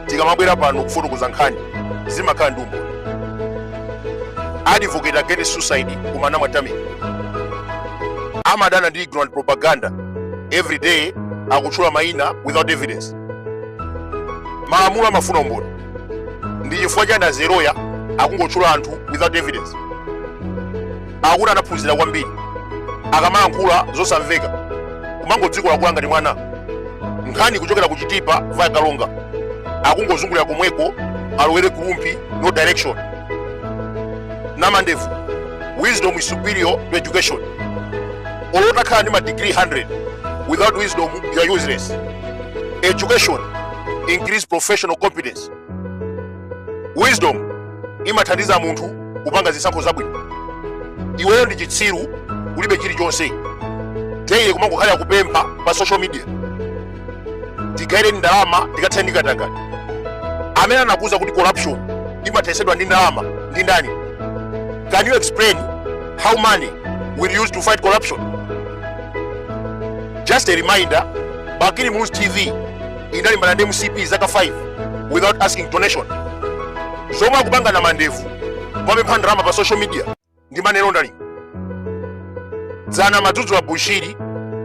tikamabwera pano kufotokoza nkhani zimakhala ndi umboni advocate against suicide kumana mwatamika amadana ndi ignorant propaganda every day akutchula mayina without evidence malamulo amafuna umboni ndi chifukwa chani azeroya akungotchula anthu without evidence akuti anaphunzira kwambiri akamalankhula zosamveka kumangodzikolakola ngati mwana nkhani kuchokera ku chitipa via karonga akungozungulira komweko alowere ku rumphi no direction namandevu wisdom is superior to education olo utakhala ndi ma degree 100 without wisdom you are useless education increase professional competence wisdom imathandiza munthu kupanga zisankho zabwino iweyo ndi chitsiru ulibe chilichonse daily kumangokhalira kupempha pa social media tigaireni ndalama tikathane ndi katangale amene anakuuza kuti corruption imathesedwa ndi ndalama ndi ndani can you explain how money will use to fight corruption just a reminder bakili muluzi tv idalimbana ndi mcp zaka 5 without asking donation zomwe akupanga namandevu popempha ndalama pa social media ndi money laundering dzana amadzudzula bushiri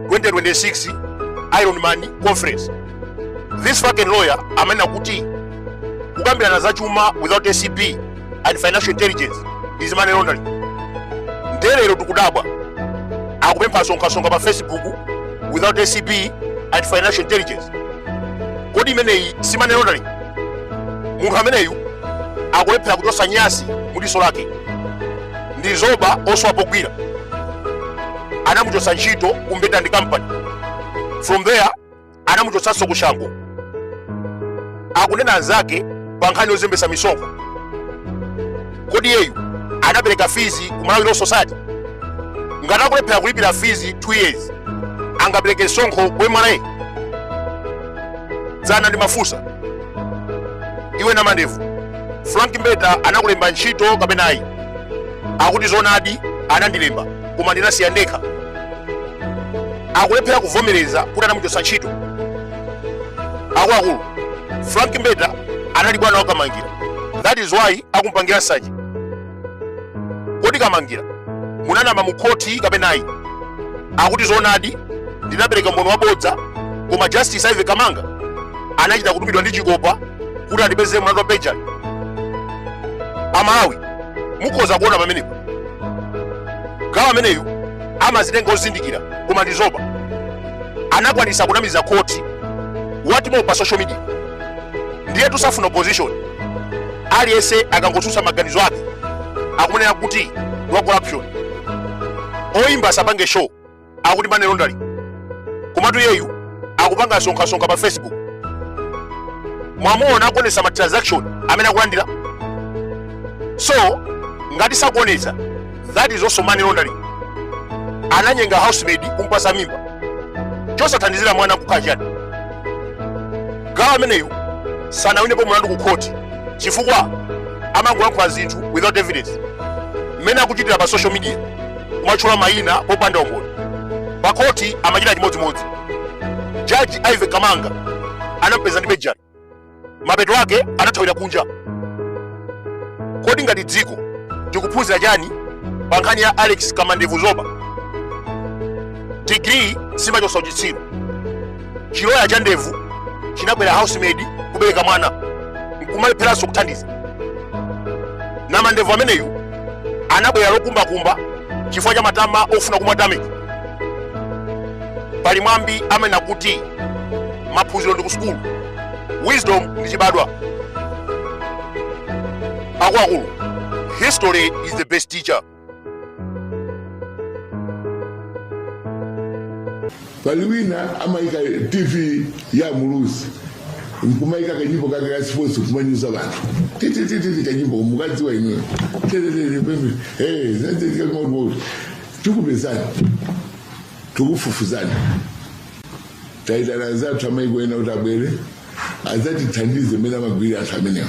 2026 iron man conference this fucking lawyer amanena kuti kukambirana za chuma without acb and financial intelligence is money laundering nde lero tikudabwa akupempha sonkhasonkha pa facebook without acb and financial intelligence kodi imeneyi si money laundering munthu ameneyu akulephera kuchosa nyasi mudiso lake ndi zoba osowa pogwira anamuchosa ntchito ku mbeta and company from there anamuchotsanso ku chanco akunena anzake pa nkhani yozembesa misonkho kodi iyeyu anapereka fees ku malawi law society ngati akulephera kulipira fees 2 years angapereke msonkho ku mra dzana ndimafunsa iwe namandevu frank mbeta anakulemba ntchito kapena ayi akuti zonadi anandilemba koma ndinasiya ndekha akulephera kuvomereza kuti anamuchotsa ntchito akuluakulu frank mbeta anali bwana wa kamangila that is why akumpangira nsanje kodi kamangila munanama mu khoti kapena ayi akuti zoonadi ndinapereka umboni wabodza koma justice ivy kamanga anachita kutumidwa ndi chikopa kuti andipezere mlandu wa perjury amalawi mukhoza kuona pamenepo gawo ameneyu amazitenga ozindikira koma ndi zoba anakwanisa kunamiza khoti wathimo pa social media ndiye posafuna opposition aliyense akangotsutsa maganizo ake akumanenera kuti ndi wa corruption oyimba asapange show akuti money laundering komatu iyeyu akupanga sonkhasonkha pa facebook mwamuona akuonesa ma transaction amene akulandira so ngati sakuonesa that is also money laundering ananyenga housemaid kumpasa mimba chosathandizira mwana kukhala chani gawo ameneyu sanawinepo mlandu ku khoti chifukwa amangolankhula zinthu without evidence mmene akuchitira pa social media kumatchula mayina popanda umboni pakhoti amachita chimodzimodzi jaji ivy kamanga anampeza ndi perjury mapeto ake anathawira kunja kodi ngati dziko tikuphunzira chani pa nkhani ya alex kamandevu zoba digiri simachotsa uchitsiru chiloya cha ndevu chinagwera housemaid kubereka mwana nkumalepheranso kuthandiza namandevu ameneyu anabwera lokumbakumba chifukwa cha matama ofuna kumatamika pali mwambi amene akuti maphunziro ndi kusukulu wisdom ndi chibadwa akuluakulu history is the best teacher pali wina amayika tv ya muluzi nkumayika kanyimbo kake ka sports nkumanyoza anthu titititi kanyimbo mukadziwa imwe tikupezani tikufufuzani taitana anzathu amayiko ena kuti abwere adzatithandize mmene amagwirira anthu amenewa